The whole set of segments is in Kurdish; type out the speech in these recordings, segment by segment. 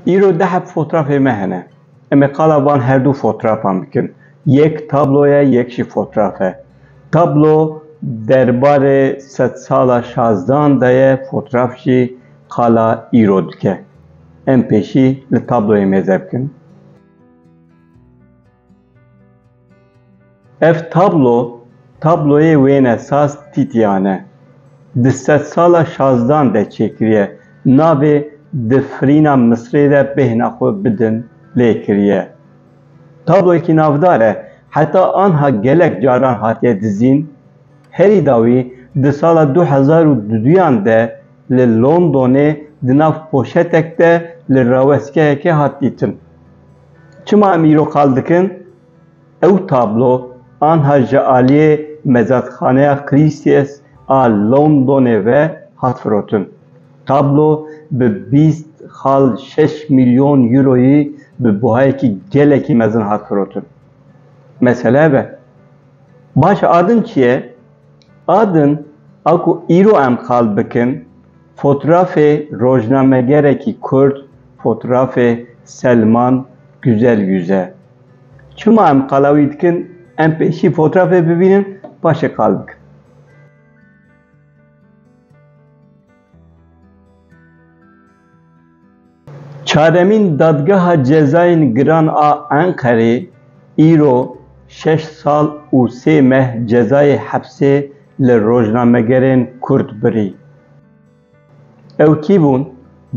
Îro dehep fotrafê me hene. Em ê qala van her du fotrafan bikin. Yek tablo ye, yek jî fotraf e. Tablo derbarê sed sala şazdan de ye, fotraf jî qala îro dike. Em pêşî li tabloyê mêze bikin. Ev tablo tabloyê wêne saz Tîtîyan e. Di sedsala şazdan de çêkiriye. Navê di firîna Misrê de bêhna xwe bidin lê kiriye. Tabloyekî navdar e. Heta anha gelek caran hatiye dizîn. Herî dawî di sala du hezar û duduyan de li Londonê di nav poşetek de li rawestkeyekê hat dîtin. Çima em îro qal dikin? Ew tablo anha ji aliyê Mezatxaneya Christies a Londonê ve hat firotin. Tablo bi bîst xal şeş mîlyon euroyî bi buhayekî gelekî mezin hat firotin. Mesele ev e. Baş e adin çi ye? Adin a ku îro em qal bikin, Fotrafê rojnamegerekî kurd fotrafê Selman Güzelgüz e. Çima em qala wî dikin em pêşî fotrafê bibînin paşê qal bikin. Çaremîn Dadgeha Cezayên Giran a Enqerê îro şeş sal û sê meh cezayê hepsê li rojnamegerên Kurd birî. Ew kî bûn?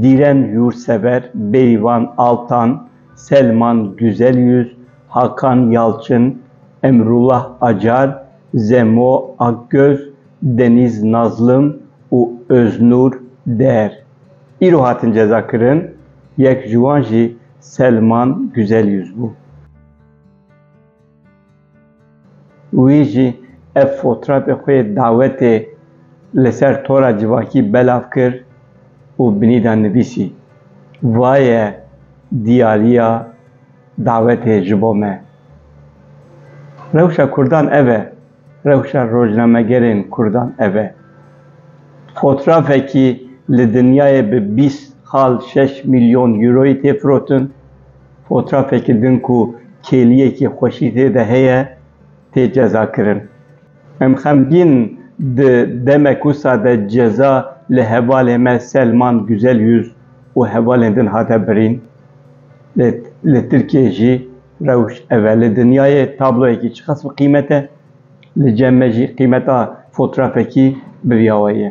Dîren Yursever, Bêrîvan Altan, Selman Güzelyüz, Hakan Yalçin, Emrullah Acar, Zemo Akgöz, Deniz Nazlim û Öznur Der. îro hatin cezakirin, yek ji wan jî Selman Güzelyüz bû. Wî jî ev fotrafê xwe yê dawetê li ser tora civakî belav kir û binî de nivîsî, Va ye diyariya dawetê ji bo me. Rewşa kurdan ev e. Rewşa rojnamegerên kurdan ev e. Fotrafekî li dinyayê bi bîst xal şeş mîlyon euroyê tê firotin. Fotrafekî din ku kêliyekî xweşî tê de heye, tê cezakirin. Em xemgîn in di demek wisa de ceza li hevalê me Selman Güzelyüz û hevalên din hate birîn. Lê li Tirkiyeyê jî Rewş ev e li dinyayê tabloyekî çiqas bi qîmet e, li cem me jî qîmeta fotrafekî bi vî awayî ye.